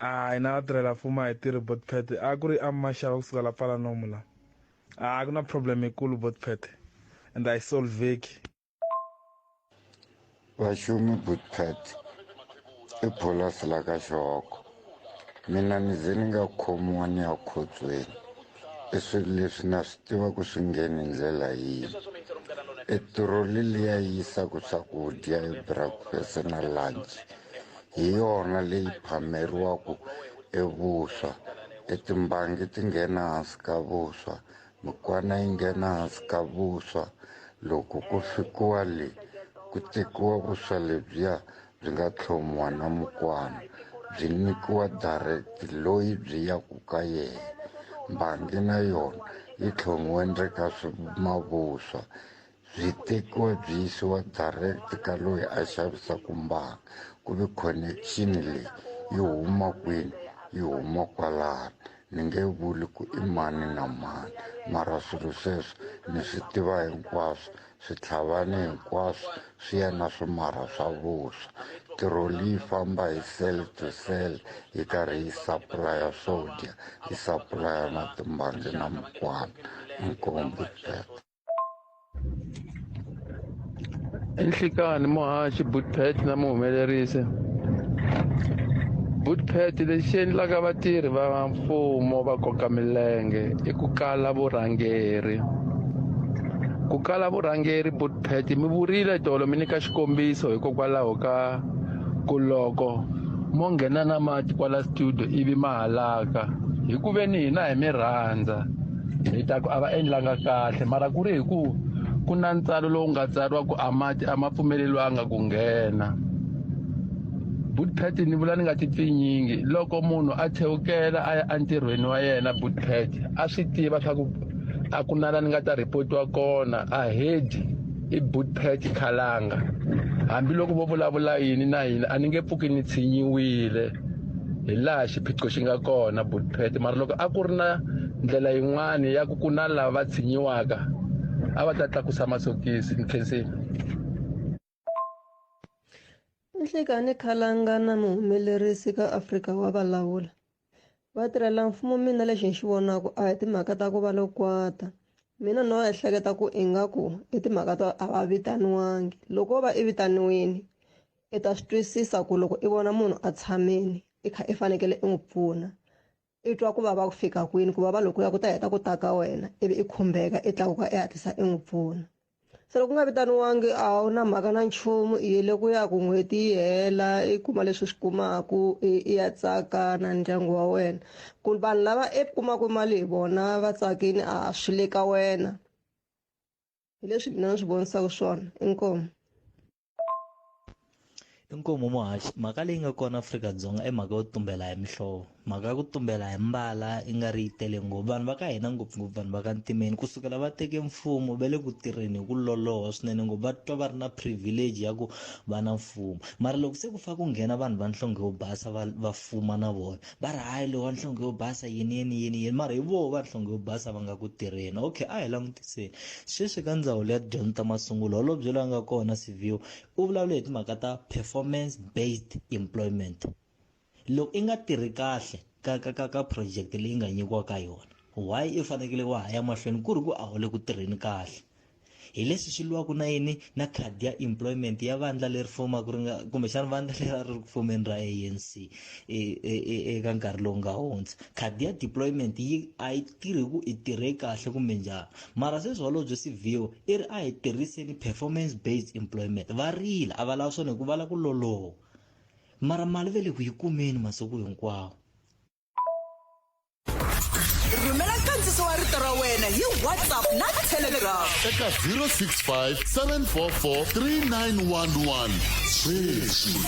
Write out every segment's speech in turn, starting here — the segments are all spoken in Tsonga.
A hina vatirhela mfumo a hi tirhi botpet a ku ri amaxava kusuka la pfala nomu la a ku na problem yikulu botpet and a yi solveki vaxumi botpet i pholasi la ka xihoko mina ni ze ni nga khomiwa ni ya khotsweni i swilo leswi na swi tivaku swi ngheni hi ndlela yihi i turoli liya yi yisaku swakudya hi breakfast na lunch hi yona leyi phameriwaku e vuswa e timbangi ti nghena hansi ka vuswa mikwana yi nghena hansi ka vuswa loko ku fikiwa le ku tekiwa vuswa lebyiya byi nga tlhomiwa na mukwana byi nyikiwa direct loyi byi yaku ka yena mbangi na yona yi tlhomiwe ndzeni ka mavuswa byi tekiwa byi yisiwa direct ka loyi a xavisaka mbangi ku ve connection leyi yi huma kwini yi huma kwalano ni nge vuli ku i mani na mani mara swilo sweswo ni swi tiva hinkwaswo Switlhavana hinkwaswo swi ya na swimarha swa vuswa. Tiroli yi famba hi cell to cell yi karhi yi sapulaya swo dya, yi sapulaya na timbangi na mukwana. Inkomu Bert. Inhlikani muhaxi Budpet na muhumelerisi. Budpet lexi endlaka vatirhi va mfumo va koka milenge i ku kala vurhangeri. ku kala vurhangeri butpet mi vurile tolo mi nyika xikombiso hikokwalaho ka ku loko mo nghena na mati kwala studio ivi ma halaka hi ku ve ni hina hi mi rhandza hi ta ku a va endlanga kahle mara ku ri hi ku ku na ntsalo lowu nga tsariwa ku a mati a ma pfumeleliwanga ku nghena butpet ni vula ni nga tipfinyingi loko munhu a chewukela a ya entirhweni wa yena butpet a swi tiva swa ku a ku na la ni nga ta rhipotiwa kona a hedi i bootpet khalanga hambiloko vo vulavula yini na yini a ni nge pfuki ni tshinyiwile hi laha xiphiqo xi nga kona bootpet mara loko a ku ri na ndlela yin'wani ya ku ku na lava tshinyiwaka a va ta tlakusa masokisi ni khensile Nhlikani Khalangana muhumelerisi ka Afrika wa valawula vatirhela mfumo mina lexi ni xi vonaka a hi timhaka ta ku va lo kwata mina no ehleketa ku ingaku i timhaka to a va vitaniwangi loko o va i vitaniwini i ta swi twisisa ku loko i vona munhu a tshamile i kha i fanekele i n'wi pfuna i twa ku vava ku fika kwini ku vava lokuya ku ta heta ku ta ka wena ivi i khumbeka i tlakuka i hatlisa i n'wi pfuna se loko u nga vitaniwangi a wu na mhaka na nchumu i yele ku ya ku n'hweti yi hela i kuma leswi swi kumaku i ya tsaka na ndyangu wa wena ku vanhu lava i kumaku mali hi vona va tsakini a swi le ka wena hi leswi mina ni swi vonisaka swona inkomu inkomu muhaxi mhaka leyi nga kona afrika-dzonga i mhaka yo tumbela hi mihlovo mhaka ya ku tumbela hi mbala i nga ri yi tele ngopfu vanhu va ka hina ngopfungopfu vanhu va ka ntimeni kusukela va teke mfumo va le ku tirheni hi ku loloha swinene ngopfu va twa va ri na privilege ya ku va na mfumo mara loko se ku fa ku nghena vanhu va nhlonge yo basa va va fuma na vona va ri hayi lowa nhlonge yo basa yini yini yini yini mara hi voho va nhlonge yo basa va nga ku tirheni okay a hi langutiseni sweswi ka ndzawulo ya tidyondzo ta masungulo holobye loyi a nga kona siviwo u vulavule hi timhaka ta performance based employment loko i nga tirhi kahle ka ka ka ka project leyi nga nyikiwaka yona why i fanekele wa ha ya mahlweni ku ri ku a wu le ku tirheni kahle hi leswi swi lwaka na yini na khadi ya employment ya vandla leri fomaka ri nga kumbexana vandla leri a ri ri ku fomeni ra anc e, e, e, eka nkarhi lowu nga hundza khadi ya deployment yi a yi tirhi ku i tirhe kahle kumbe njhani mara sweswi holobye sivio i ri a hi tirhiseni performance based employment va rila a va lava swona hikuva va lava ku loloha mara mali ve le ku yi kumeni masiku hinkwawo rhumela nkandziso wa rito ra wena hi whatsapp na telegram eka 065 744 3911 sweswi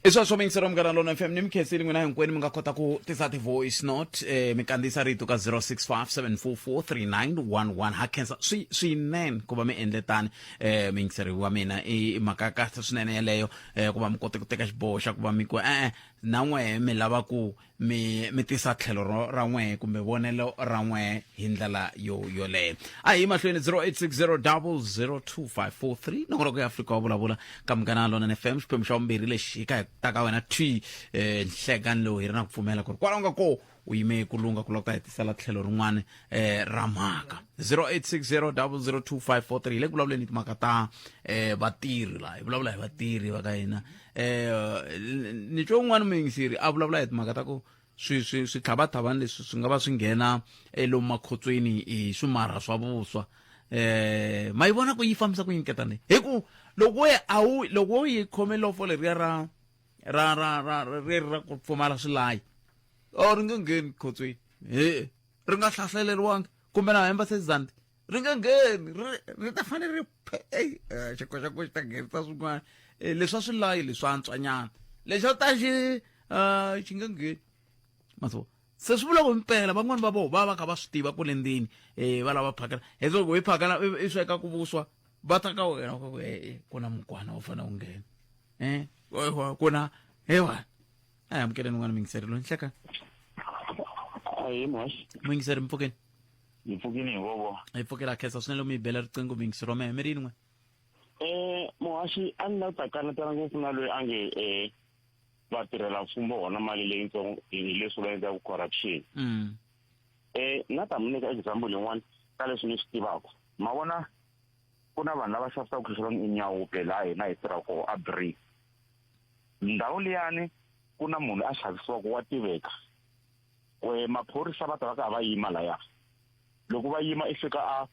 i swa swo mingisero munghana lona fm ni mikhensini n'wina hinkwenu mi nga kota ku tisa ti-voice note eh, mi kandziyisa rito ka 0657443911 ha khensa swi- swinene ku va mi endle tani eh, muyingiseri wa mina i i mhaka ya kahle swinene yeleyo eh, ku va mi kote ku teka xiboho xa ku va mi ku e-e na n'wehe mi lava ku mi mi tisa tlhelo ro ra n'wehe kumbe vonelo ra n'wehe hi ndlela yo yoleyo a hi mahlweni 0860002543 nokora ku ya afrika wa vulavula ka munghana lona ni fm xiphemu xa vumbirhi lexi hi ka hi ta ka wena twi eh, nhlekani lowu hi ri na ku pfumela ku ri kwalaho nga ko u yime ku lunga ku lava ku ta hetisela tlhelo rin'wana eh, ra mhaka 0860002543 hi le ku vulavuleni hi timhaka ta eh, vatirhi laha hi vulavula hi vatirhi va ka hina eh, ni twe un'wana muyingiseri a vulavula hi timhaka ta ku swi swi swi tlhavathavani leswi swi nga va swi nghena elomu makhotsweni hi swimarha swa vuswa eh ma yi vona ku yi fambisa ku yini ketane hi ku loko we a wu loko wo yi khome lofo leriya ra ra ra ra ri ra ku pfumala swilayi or ri nge ngheni khotsweni he ri nga hlaseriwanga kumbe na hemba sezandi ri nge ngheni ri ta fanele ri xikoxako xi ta nghenisa swin'wana eh, leswi a swi layi leswi antswanyana lexi a ta xi ah, xi nge ngheni maso se swi vula ku mpela van'wani va voho va va kha va swi tiva ku le ndzeni um eh, va lava phakela hi loko hi phakela i sweka ku vuswa va ta ka wena ku na mukwana wu fanele wu nghena eh wa- wa- kona hewa aya mukele nungwana mingiseri lo nhleka ayi mos mingiseri mpfukeni ni pfukile hi vovo hi pfukela khesa swinene mi bela riqingho mingiseri wa mehe mi ri yin'we um muhaxi a ni la ta kanetana ngopfu na loyi a nge um va tirhela mfumo hona mali leyitsongo hi leswi va endlaka corruption Mm. um na ta mi nyika example yin'wana ka leswi ni swi tivaka ma vona ku na vanhu lava xavisaka swilo swa vanhu enyawupe laha hina hi tirhaka koho a break ndhawu liyani ku na munhu a xavisiwaka wa tiveka kwe maphorisa va ta va ka va yima laya loko va yima i fika a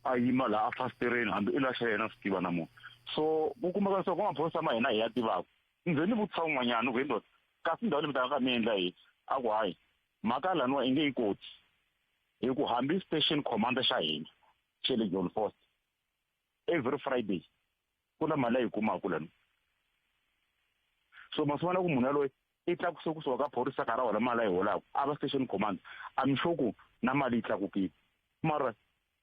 a yima laha a fasitereni hambi i laxa yena swi tiva na munhu so ku kumeka leswaku maphorisa ma hina hi ya tivaka ndze ni vutisa un'wanyana ku hi ndoda kasi ndhawu leyi mi taka ka mi endla yini a ku hayi mhaka laniwa i nge yi koti hi ku hambi station commander xa hina chele john foster every friday ku na mali leyi kumaka lani so masiwana ku munhu yaloye i tlakuse kusuka ka phorisa ka ra wona mali a yi holaka a va station command i'm sure ku na mali yi tlakukile mara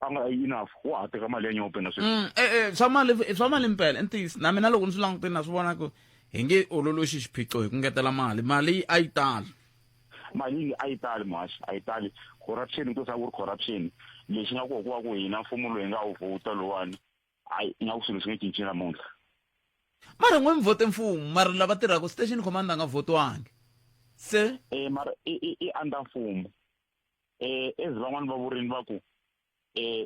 a nga yi enough wa ha teka mali ya nyope na sweswi mm, eh, eh, swa mali eh, swa mali mpela ntiyiso na mina loko ni swi langutini na swi vona ku hi nge ololoxi xiphiqo hi ku ngetela mali mali a yi tala mali yi a yi tali muhaxi a yi tali corruption ku sa ku ri corruption lexi nga koho ku va ku hina mfumo loyi nga wu vhota lowani hayi nga ku swilo swi nge cinci namuntlha mara n'we mi vote mfumo mara lava tirhaka station commander a nga votiwangi se um mara i under mfumo um as van'wani va vurini va ku um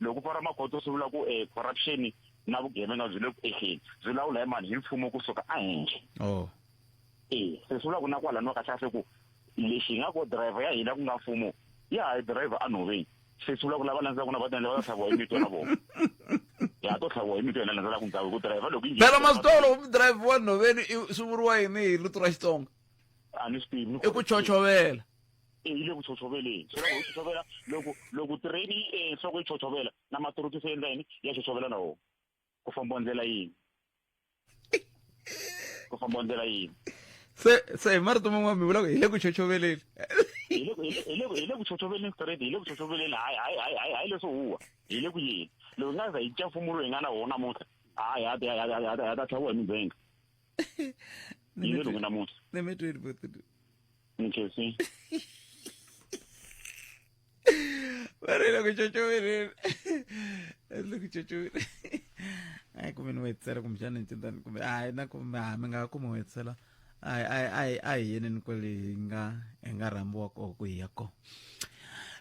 loko u pfala magoto swi vula ku um corruption na vugevenga byi le ku ehleni byi lawula hi mani hi mfumo kusuka ehenhla oh. e se swi vula ku na kwalani wa kahlekahle ku lexi hi nga ko driver ya hina ku nga mfumo ya ha yi driver anhoveni se swi vula ku lava landzelaka na va tendla va ta tlhaviwa hi mito na vona ya to tlhaviwa hi mito yena landzela ku ndhawu hi ku driver loko yi phela masitolo ku driver wa nhoveni swi vuriwa yini hi luto ra xitsonga a ni swi tivi i ku chonchovela e yi le ku chochoveleni so loko yi chochovela loko loko tirheni yi e nhloko yi chotshovela na maturuki se endla yini ya chotshovela na wona ku famba ndlela yini ku famba ndlela yini se se hi marito man'wana mi vulaka hi le ku chochoveleni hi le ku chochoveleni straight hi le ku chochoveleni hayi hayi hayi hayi hayi leswo huwa hi le ku yini loko hi nga za hi dya mfumo lowu hi nga na wona namuntlha hayi ha ta tlhaviwa hi mindzhenga yi le loko namuntlha Nkosi. Vare loko chochoverile. Loko chochoverile. Ai kumbe ni wetsela kumbe xana ni cintani kumbe ai na kumbe ha mi nga kuma wetsela. Ai ai ai ai yini ni kweli hi nga hi nga rhambiwa ko ku hi ya ko.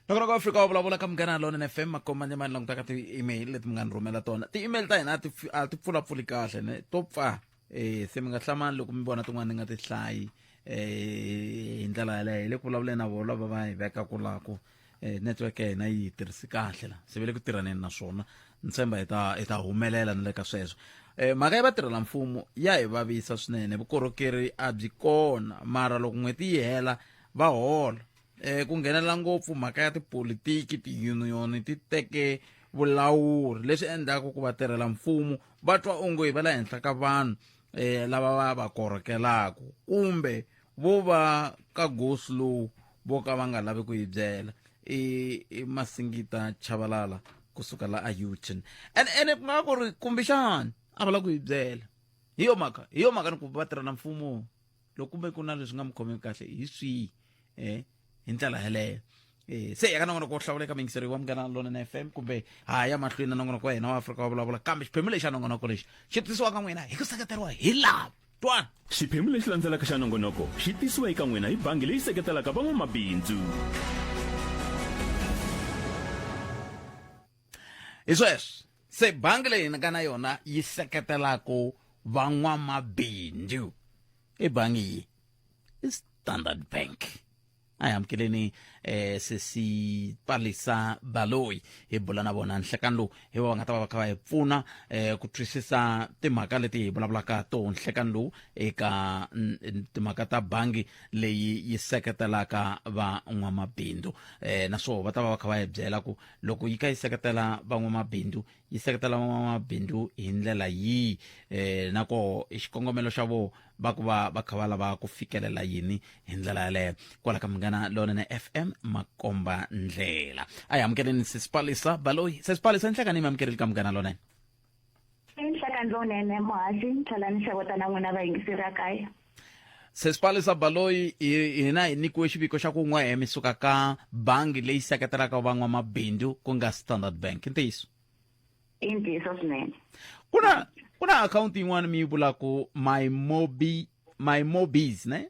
loko loko fika u vulavula ka munghana lonene fm makomanye mani langutaka ti-email leti mi nga ni rhumela tona ti-email ta hina a ti pfulapfuli kahle ne to pfa eh se mi nga hlamani loko mi vona tin'wana ni nga ti hlayi eh hi ndlela yaleyo hi le ku vulavuleni na vona va va hi veka kulako eh network ya hina yi tirhisi kahle la se ve le ku tirhaneni na swona ni tshemba hi ta hi ta humelela ni le ka sweswo eh mhaka ya vatirhela mfumo ya hi vavisa swinene vukorhokeri a byi kona mara loko n'hweti yi hela va hola um ku nghenelela ngopfu mhaka ya tipolitiki tiyuniyoni ti teke vulawuri leswi endlaka ku vatirhela mfumo va twa onge va le henhla ka vanhu um lava va va korhokelaka kumbe vo va ka gosi lowu vo ka va nga lavi ku yi byela i masingita chavalala kusuka la a uton ene ene ku nga ku ri kumbexani a va la ku yi byela hi yo mhaka hi yo mhaka ni ku va tirhela mfumo loko kumbe ku na leswi nga mi khomeki kahle hi swihi um hi ndlela yeleyo Eh, se ya ka nongonoko wo hlawuleka mingiseri wa munghana lona na fm kumbe ha ya mahlweni na nongonoko wa hina wa afrika wa vulavula kambe xiphemu lexi xa nongonoko lexi xi tisiwa ka n'wina hi ku seketeriwa hi lava twana xiphemu lexi landzelaka xa nongonoko xi tisiwa eka n'wina hi bangi leyi seketelaka van'wamabindzu hi sweswi se bangi leyi ni nga na yona yi seketelaka van'wamabindzu i bangi yi i standard bank a hi amukeleni eh sesi palisa baloyi hi bula na vona nhlekani lowu hi va va nga ta va va kha va hi pfuna eh ku twisisa timhaka leti hi vulavulaka to nhlekani lowu eka timhaka ta bangi leyi yi seketelaka van'wamabindzu eh naswona va ta va va kha va hi byela ku loko yi ka yi seketela van'wamabindzu yi seketela van'wamabindzu hi ndlela yihi um na koho xikongomelo xa vona va ku va va kha va lava ku fikelela yini hi ndlela yaleyo kwala ka munghana lonene fm makomba ndlela a hi amukeleni sesipalisa baloyi sesipalisa ni hlangani mi amukerile ka munghana lonene Nhlaka ndlonene muhasi ni tlhela ni xavota na n'wina vayingiseri a kaya sesipalisa baloyi hina hi nyikiwe xiviko xa ku n'we mi suka ka bangi leyi seketelaka van'wamabindzu ku nga standard bank i ntiyiso i ntiyiso swinene ku na ku na akhawunti yin'wana mi yi vulaku my mobi my mobis ne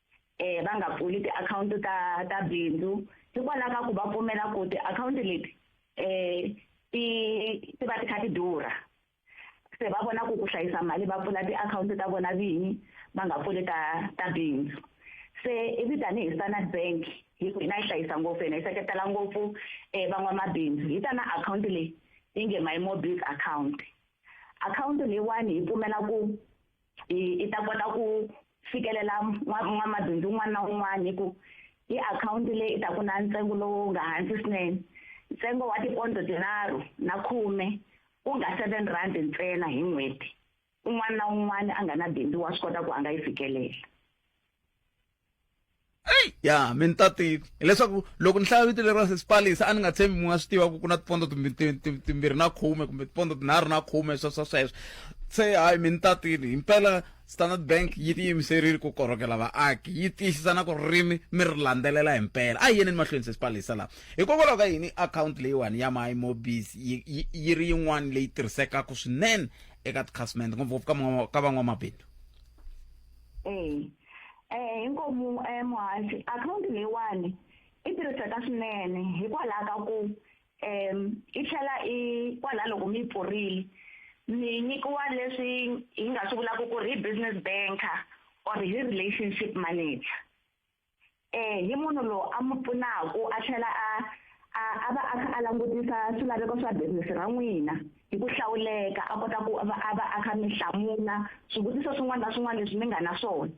eh va nga pfuli tiakhawunti ta ta bindzu hikwalaho ka ku va pfumela ku tiakhawunti leti eh ti ti va ti kha ti durha se va vona ku ku hlayisa mali va pfula tiakhawunti ta vona vinyi va nga pfuli ta ta bindzu se ivi tanihi standard bank hi ku hina yi hlayisa ngopfu hina yi seketela ngopfu um eh, van'wamabindzu hi ta na akhawunti leyi yi nge my mobile account akhawunti leyiwani yi pfumela ku i i ta kota ku fikelela n'wamabindzu un'wana na un'wana hi ku hi akhawunti leyi i ta ku na ntsengo lowu nga hansi swinene ntsengo wa tipondo tinharhu na khume u nga seven rand ntsena hi n'hweti un'wana na un'wana a nga na bindzu wa swi kota ku a nga yi fikelela ya mi ni ta tiva hileswaku loko ni hlaya vito leriwa sesipalisa a ni nga tshembi mi nga swi tiva ku ku na tipondo timbirhi na khume kumbe tipondo tinharhu na khume sweswo sweswo se hayi mi ni tatile himpela standard bank yi tiyimiserile ku korhokela vaaki yi tiyisisa na ku ririmi mi ri landzelela hi mpela a yi yeneni mahlweni sesipalisa laha hikokwalaho ka yini akhawunti leyiwani ya my mobis yi ri yin'wana leyi tirhisekaka swinene eka tikhasimende ngopfungopfu ka van'wamabindzu mm. eh inkomu eh muhasi account leyiwani i tirhiseka swinene hikwalaho ka ku um i tlhela i kwalaho loko mi yi pfurile mi nyikiwa leswi hi nga swi vulaka ku ri hi business banker or hi relationship manager eh hi munhu loyi a mi pfunaku a tlhela a a a va a kha a langutisa swilaveko swa business ra n'wina hi ku hlawuleka a kota ku va a va a kha mi hlamula swivutiso swin'wana na swin'wana leswi mi nga na swona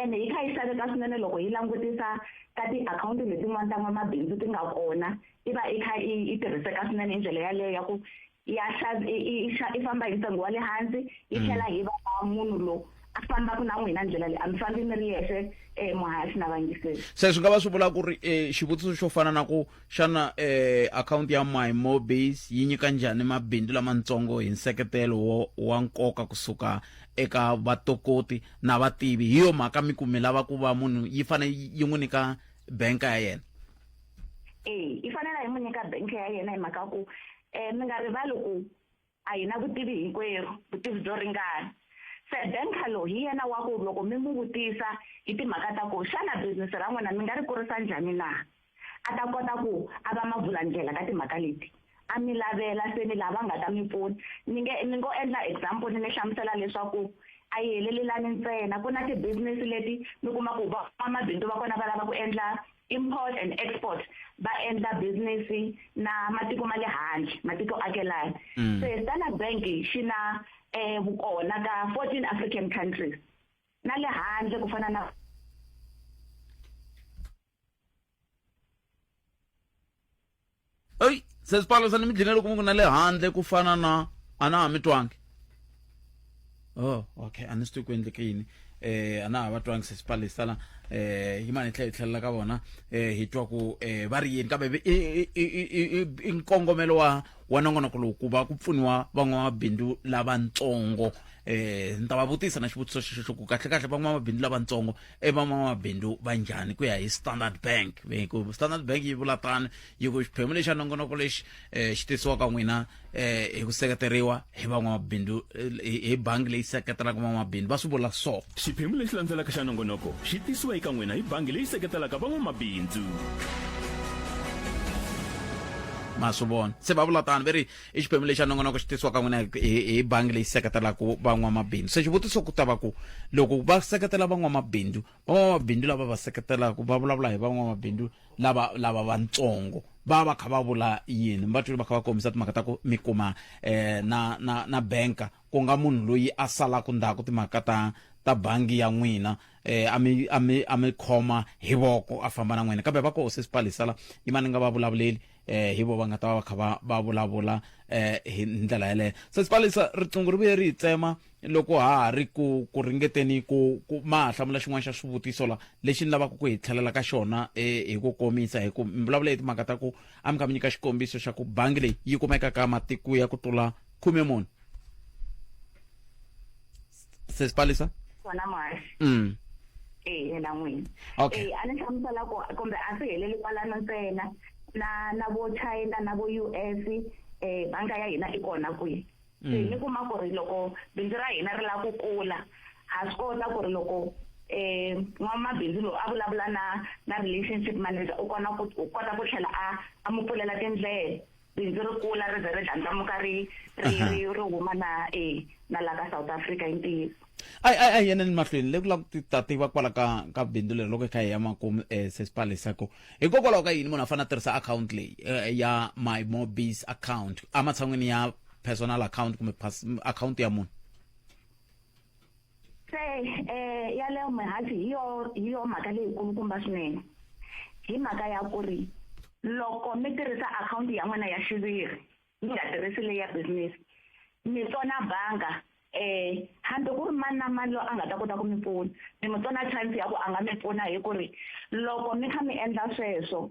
ene hi kha yi xaveka swinene loko yi langutisa ka tiakhawunti letin'wana ta n'wamabindzu ti nga kona i va i kha i tirhiseka swinene hi ndlela yaleyo ya ku ya i famba hi ntsengo wa le hansi yi mm. tlhela hi va munhu lowu a fambaka na n'wina ndlela leyi a mi fambi mi ri yexe um eh, muhayasi na vangiseli se swi nga va swi vula ku ri um xivutiso xo fana na ku xana um akhawunti ya my mobase yi nyika njhani mabindzu lamatsongo hi nseketelo wo wa nkoka kusuka eka vatokoti na vativi hi yo mhaka mi kumi lava ku va munhu yi fanele yi n'wi nyika banka ya yena e yi fanele yi n'wi nyika banka ya yena hi mhaka ku eh mi nga rivali ku a hi na vutivi hinkwerhu vutivi byo ringana se ben carlo hi yena wa ku loko mi n'wi vutisa hi timhaka ta ku xana bizinisi ra n'wina mi nga ri kurisa njhani na a ta kota ku a va mavulandlela ka timhaka leti a mi lavela se ni lava nga ta mi pfuna ni nge ni ngo endla example ni mi hlamusela leswaku a yi helelelani ntsena ku na ti-business leti mi kuma ku vamabindzu va kona va lava ku endla import and export va endla business na matiko ma le handle matiko akelana mm. se standard bank xi na eh vukona ka 14 african countries na le handle ku fana na eyi se swipfalo swa nimidlina loko mi ku na le handle ku fana na a na ha mi twangi oh okay a ni swi twi ku endleke yini eh a na ha va twangi se swipfalo hi sala eh yi mani hi tlhela hi tlhelela ka vona eh hi twa ku eh va ri yini kambe i i- i- i- i- i nkongomelo wa wa nongonoko lowu ku va ku pfuniwa van'wamabindzu lavatsongo eh ni ta va vutisa na xivutiso xexo ku kahlekahle van'wamabindzu lavatsongo i van'wamabindzu va njhani ku ya hi standard bank ku standard bank yi vula tano yi ku xiphemu lexi xa nongonoko lexi um xi tisiwaka n'wina um hi ku seketeriwa hi van'wamabindzu hi bangi leyi seketelaka van'wamabindzu va swi vula so xiphemu lexi landzelaka xa nongonoko xi tisiwa eka n'wina hi bangi leyi seketelaka van'wamabindzu ma swi vona se va vula tano va ri i xiphemu lexi a nongonoko xi tisiwaka n'wina hi bangi leyi seketelaka van'wamabindzu se xivutiso ku ta va ku loko va seketela van'wamabindzu van'wamabindzu lava va seketelaka va vulavula hi van'wamabindzu lava lava vatsongo va va kha va vula yini va twile va kha va kombisa timhaka ta ku mi kuma eh, na na na banka ku nga munhu loyi a salaka ndzhaku timhaka ta ta bangi ya n'wina eh a mi a mi a mi khoma hi voko a famba na n'wina kambe va ko se sipalisala yimani nga va vulavuleli eh hi vo va nga ta va va kha va va vulavula eh hi ndlela yeleyo sesi palisa riqingho ri vuye ri hi tsema loko ha ha ri ku ku ringeteni ku ku ma ha hlamula xin'wana xa swivutiso la lexi ni lavaka ku hi tlhelela ka xona eh, hi ku komisa hi ku mi vulavula hi timhaka ta ku a mi kha mi nyika xikombiso xa ku bangi leyi yi kumeka ka matiko ya ku tlula khume muni sesi palisa wona mhasi mm. e yena n'wini okay. e a ni hlamusela ku kumbe a swi heleli kwalano ntsena na na vo china na vo u s um eh, banga ya hina i kona kwihi se mm. ni kuma ku ri loko bindzu ra hina ri lava ku kula ha swi kota ku ri loko eh n'wamabindzu lowu a vulavula na na relationship manager u kona ku u kota ku tlhela a a mu pfulela tindlela bindzu ri kula ri ze ri dlandlamuka ri ri ri ri huma na e na la ka south africa hi ntiyiso ayi ayi ayi yeneni mahlweni le ku lava ku ta tiva kwala ka ka bindzu leri loko hi kha hi ya makumu um eh, sesipalisa ku hikokwalaho ka yini munhu a fanele a tirhisa akhawunti leyi eh, ya my mobis account ematshan'wini ya personal account kumbe akhawunti ya munhu se um yaleyo mihansi hi yo hi yo mhaka leyikulukumba swinene hi mhaka ya ku ri loko mi tirhisa akhawunti ya n'wina ya xiviri mi nga tirhisi leyi ya business mi tsona banga um hambi ku ri mani na mani loyi a nga ta kota ku mi pfuna mi mi tsona chance ya ku a nga mi pfuna hi ku ri loko mi kha mi endla sweswo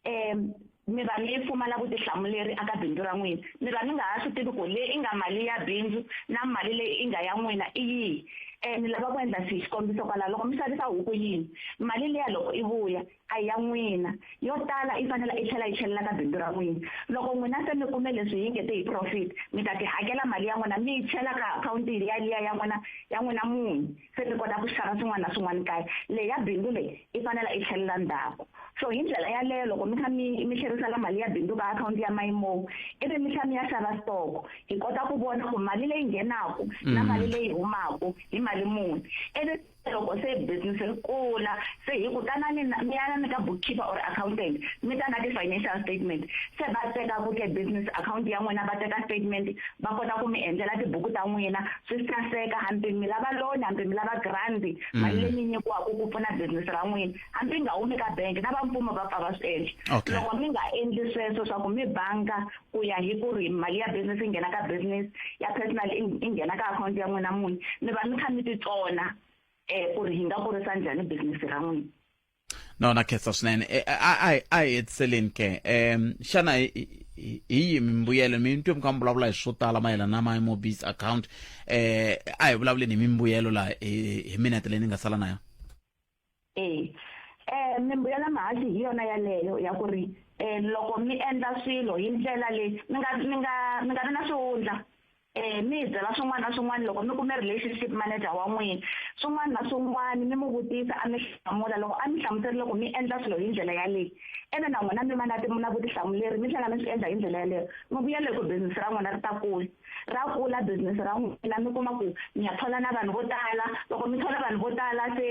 um mi va mi pfumala vutihlamuleri aka bindzu ra n'wina mi va mi nga ha swi tivi ku leyi i nga mali ya bindzu na mali leyi i nga ya n'wina i yihi um ni lava ku endla xihi xikombiso kwalaho loko mi xavisa huku yini mali leya loko i vuya a ya n'wina yo tala i fanele i tlhela yi tlhelela ka bindzu ra n'wina loko n'wina se mi kume leswi yi nge te hi profit mi ta ti hakela mali ya n'wina mi yi chela ka akhawunti yaliya ya n'wina ya n'wina munhu se ni kota ku xava swin'wana na swin'wana kaya leyi ya bindzu leyi i fanela i tlhelela ndzhaku so hi ndlela yaleyo loko mi kha mi mi tlherisela mali ya bindzu ka akhawunti ya mayimo ivi mi tlha mi ya xava stoko hi kota ku vona ku mali leyi nghenaka na mm. mali leyi humaka hi mali muni ivi loko se business ri kula se hi ku tanani mi yana ni ka bookkeeper or accountant mi ta na ti-financial statement se va teka ku ke business account ya n'wina va teka statement va kota ku mi endlela tibuku ta n'wina swi saseka hambi mi lava loan hambi mi lava grandi mm. mali leyi mi nyikiwaka ku pfuna business ra n'wina hambi nga humi ka bank na vamfumo va pfa va swi endla loko mi nga endli sweswo swa ku mi banga ku ya hi ku ri mali ya business yi nghena ka business ya personal yi nghena ka akhawunti ya n'wina munhu mi va mi kha mi titsona um ku ri hi nga kurisa njhani business ra n'wina no na khetsa swinene Eh, a a hi- a hi hetiseleni ke um xana hi hi- hi yihi mimbuyelo mi twe mi kha mi vulavula hi swo tala mayelana na my mobis account um a hi vulavuleni hi mimbuyelo laha hi hi minete leyi ni nga sala na yona e um mimbuyelo ya mahaxi hi yona yaleyo ya ku ri um loko mi endla swilo hi ndlela leyi mi nga mi nga mi nga vi na swihundla Eh, mi hi byela swin'wana na swin'wana loko mi kume relationship manager wa n'wina swin'wana na swin'wana mi n'wi vutisa a mi hlamula loko a mi hlamuserile ku mi endla swilo hi ndlela yaleyi ene na n'wina mi va na na vutihlamuleri mi tlhela mi swi endla hi ndlela yaleyo mi vuyela hi ku bizinesi ra n'wina ri ta kula ra kula bizinesi ra n'wina mi kuma ku mi ya thola na vanhu vo tala loko mi thola vanhu vo tala se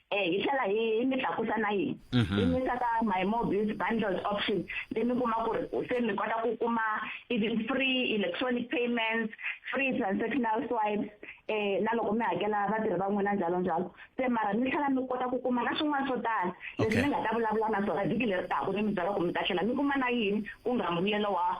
Eh, hi tlhela hi hi mi tlakusa na yini Mhm. hi mi saka my mobiles bundles option leyi mi kuma ku ri se mi kota ku kuma even free electronic payments free transactional swipes eh na loko mi hakela vatirhi va n'wina njalo njalo se mara mi tlhela mi kota ku kuma na swin'wana swo tala leswi Okay. mi nga ta vulavula na swona vhiki leri taka mi mi byela ku mi ta tlhela mi kuma na yini ku nga mbuyelo wa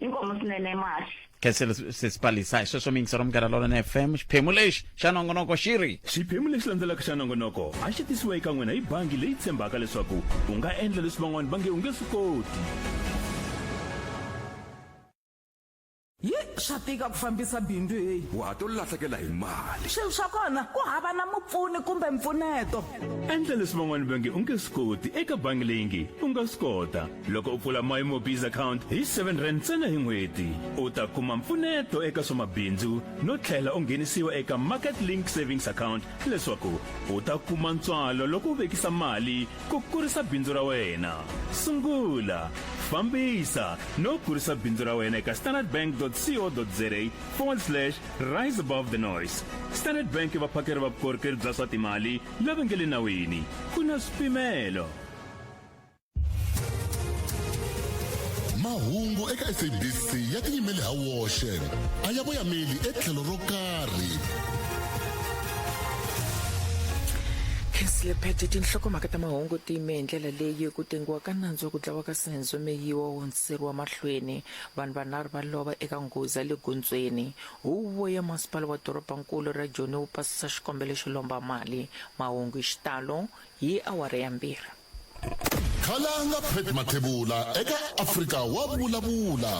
inkomo swinene mash khenselo sesipalisa hi sweswo miyingiselo munghana lolona fm xiphemu lexi xa nongonoko xi ri xiphemu lexi landzelaka xa nongonoko a xi tisiwa eka n'wina hi bangi leyi tshembaka leswaku u nga endla leswi van'wana va nge u nge swi koti yi swa tika ku fambisa bindzu heyi wa ha to lahlekela hi mali swilo swa kona ku hava na mupfuni kumbe mpfuneto endla leswi van'wana va nge u nge swi koti eka bangi leyi nge u nga swi kota Loko u pfula My MoBiz account hi 7 rand ntsena hi n'hweti, u ta kuma mpfuneto eka swa mabindzu no tlhela u nghenisiwa eka Market Link Savings Account leswaku u ta kuma ntswalo loko u vekisa mali ku kurisa bindzu ra wena. Sungula, fambisa no kurisa bindzu ra wena eka standardbank.co.za forward slash rise above the noise. Standard Bank i vaphakeri va vukorhokeri bya swa timali lava nge le nawini. Ku na swipimelo. mahungu eka sabc ya tiyimele ha woxe a ya voyameli etlhelo ro karhi khesilebete tinhlokomhaka ta mahungu ti yime hi ndlela leyi ku tengiwa ka nandzu wa ku dlawa ka senzo meyiwa wo hundziseriwa mahlweni vanhu vanharhu va lova eka nghozi ya le gondzweni huvo ya masipala wa dorobankulu ra joni wu pasisa xikombelo xo lomba mali mahungu hi xitalo hi awara ya mbirhi khalanga pet mathevula eka afrika wa vulavula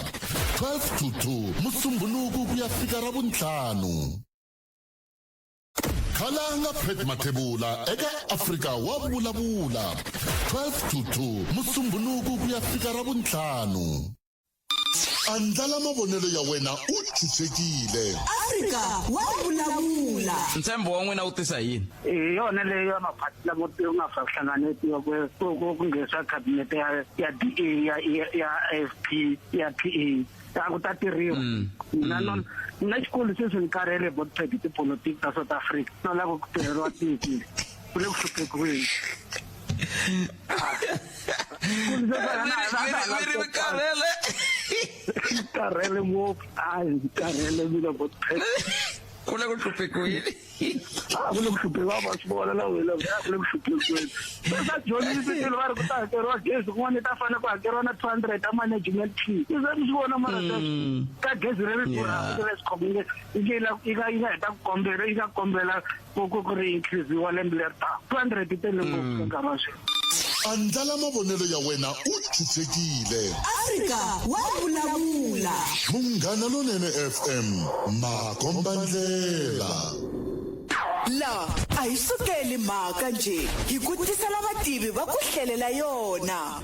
12 to 2 musumbhuluku ku ya fika ra vuntlhanu khalanga pet mathevula eka afrika wa vulavula 12 to 2 musumbhuluku ku ya fika ra vuntlhanu andlala mavonelo ya wena u chuchekile afrika wa vulavula ntshembo wa n'wina wu tisa yini hi yona leyo ya maphati lamo yo nga fa hlanganeti ya ku nghenisa khabinete ya ya da ya ya afp ya pa a ku ta tirhiwa mm. mina mm. na xikulu sweswi ni karhele bo tiphedi tipolotiki ta south africa no lava ku tirheriwa tiko ku le ku hluphekiweni ri karhele karhele ngopfu a ndzi karhele mina vo ku le ku hluphekiweni a ku le ku hluphekiwa va swi vona na wena a ku le ku hluphekiweni se sa dyondzisi swilo va ri ku ta hakeriwa gezi kun'wana ta fanele ku hakeriwa na two hundred ta management fee i za swi vona mara ka gezi ri ri durhaka leswi khomile yi nga yi nga heta ku kombela yi nga kombela ku ku ku ri increase wa lembe leri taka 200 ti tele ngopfu mm. nkarhi wa sweswi andlala mavonelo ya wena u chuchekile afrika wa vulavula munghana lonene fm makombandlela laha a hi sukeli mhaka nje hi ku tisela vativi va ku hlelela yona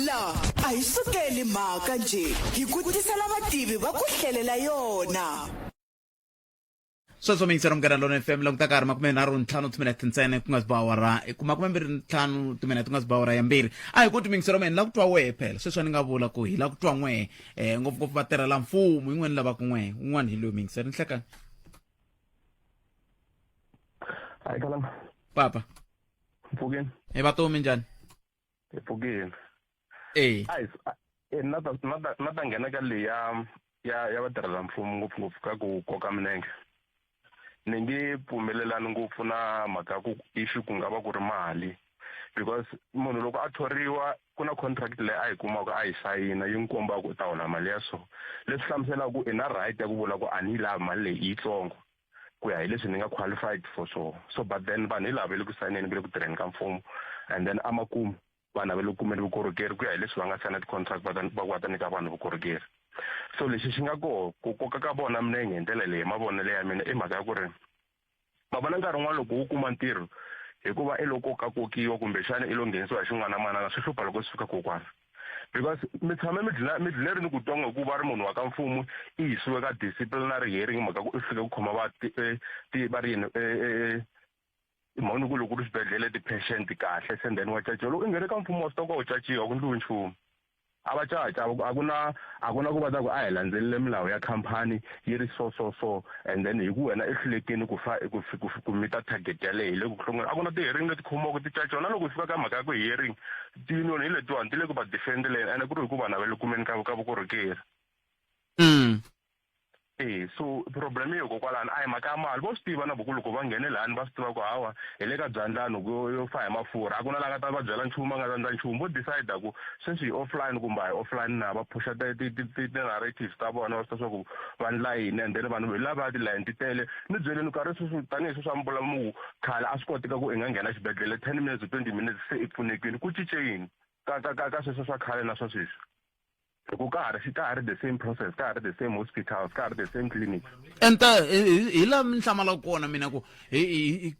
laha a hi sukeli mhaka nje hi ku tisela vativi va ku hlelela yona sweswo miyingisela munghana lona fm languta ka ha ri makume nharhu ntlhanu timinete ntsene ku nga si ba awara ku makume mbirhi ntlhanu timinete ku nga si ba awara ya mbirhi a hi ku timiyingisela mina ni la ku twa wehe phela sweswi a ni nga vula ku hi la ku twa n'wehe um ngopfungopfu va tirhela mfumo yin'wana ni lavaka n'wehe un'wana hi loyi miyingisela ni hlekani hayi kalama papa mpfukeni hi vatomi njhani ephukeni eyi guys eh, na ta na ta na ta nghena ka leyi ya ya ya vatirhela mfumo ngopfungopfu ka ku koka milenge ni nge pfumelelani ngopfu na mhaka ya ku issue ku nga va ku ri mali because munhu loko a thoriwa ku na contract leyi a yi kumaka a yi sayina yi n'wi kombaka u ta hola mali ya so leswi hlamuselaka ku i na right ya ku vula ku a ni yi lavi mali leyi i yitsongo ku ya hi leswi ni nga qualified for sure so but then vanhu hi lava ve le ku sayineni ve le ku tirheni ka mfumo and then amakumu vanhu lava le ku kumeni vukorhokeri ku ya hi leswi va nga sayina ti-contract va ku va ta nyika vanhu vukorhokeri so lexi xi nga koho ku koka ka vona milenge hi ndlela leyi mavonelo ya mina i mhaka ya ku ri va vona nkarhi wun'wana loko wu kuma ntirho hikuva i loko ka kokiwa kumbexana i lo nghenisiwa hi xin'wana na manana swi hlupha loko swi fika kokwana because mi tshame mi dlina mi dlile ri ni ku twa nga ku va ri munhu wa ka mfumo i yisiwe ka disciplinary hearing mhaka ku i fike ku khoma va ti eh, ti va ri yini eh, eh, i mhaka ni ku loko ri swibedhlele ti-patient kahle se then wa caciwa loko i nghene ka mfumo wa swi twa ku u caciwa ku ndliwi nchumu a va caca a ku na a ku na ku va ta ku a hi landzelele milawu ya khampani yi ri so so so and then hi ku wena i hlulekini ku fa ku ku ku mita target yaleyo hi le ku hlongeni a ku na ti-hearing leti khomiwaka ti caciwa na loko hi fika ka mhaka ya ku hearing tinoni hi letiwani ti le ku va defendeleni ene ku ri hikuva na va le kumeni ka ka vukorhokeri mm. e so problem yo kokwalani a hi mhaka ya mali vo swi tiva na voku loko va nghene lani va swi tiva ku hawa hi le ka byandlani ku yo fa hi mafurha a ku na la nga ta va byela nchumu a nga ta ndla nchumu vo decide ku sweswi hi offline kumbe a hi offline na va phusha ti-narratives ta vona va swi ta swa ku va ndla yini and then vanhu hi lava tilayini ti tele ni byeleni nkarhi sweswi tanihi sweswi a mi vula mu khale a swi koteka ku i nga nghena xibedhlele ten minutes twenty minutes se i pfunekile ku cince yini ka ka ka ka sweswo swa khale na swa sweswi hi ku ka ha ri ka ha ri the same process ka ha ri the same hospitals ka ha ri the same clinics enta hi laha mi hlamala kona mina ku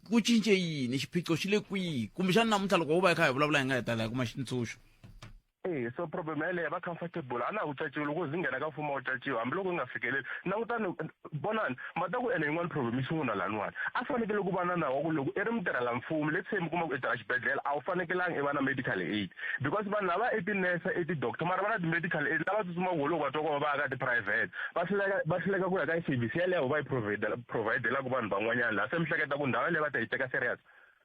ku cince yini xiphiqo xi le kwihi kumbexani namuntlha loko wo va yi kha hi vulavula hi nga hetelela hi kuma xitsundzuxo e so problem yaleyo va comfortable a na ha wu caciwi loko zi nghena ka mfumo wa caciwa hambiloko yi nga fikeleli langutani vonani ma ta ku ene yin'wana problem yi sungula laniwani a fanekele ku va na nawu wa ku loko i ri mutirhela mfumo let's say mi kuma ku i tirha xibedhlele a wu fanekelanga i va na medical aid because vanhu lava i tinurse i tidoctor mara va na ti-medical aid lava tsutsumaka wo loko va twa ku va va ya ka tiprivate va hluleka va hluleka ku ya ka service yaleyo va yi providelaka vanhu van'wanyana laha se mi hleketa ku ndhawu yaleyo va ta yi teka serious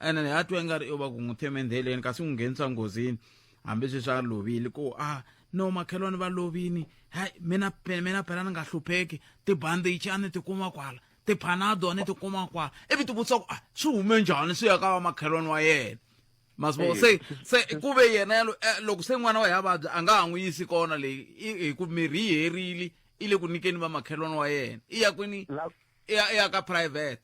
ene ni a twa ingari yo va ku n'wi theme ndheleni kasi n'wi nghenisa nghozini hambisweswi a lovile ku a ah, no makhelwani va lovini hayi mina mina phela ni nga hlupheki tibandichi a ni ti kuma kwala tiphanado a ni ti kuma kwala ivi ti vutisa ku a ah, swi hume njhani swi ya ka va makhelwani wa yena masivo se se ku ve yena yalo eh, loko se n'wana wa ya vabya a nga ha n'wi yisi kona leyi hi ku mirhi yi herile i le ku nyikeni va makhelwani wa yena i ya kwini i ya ka private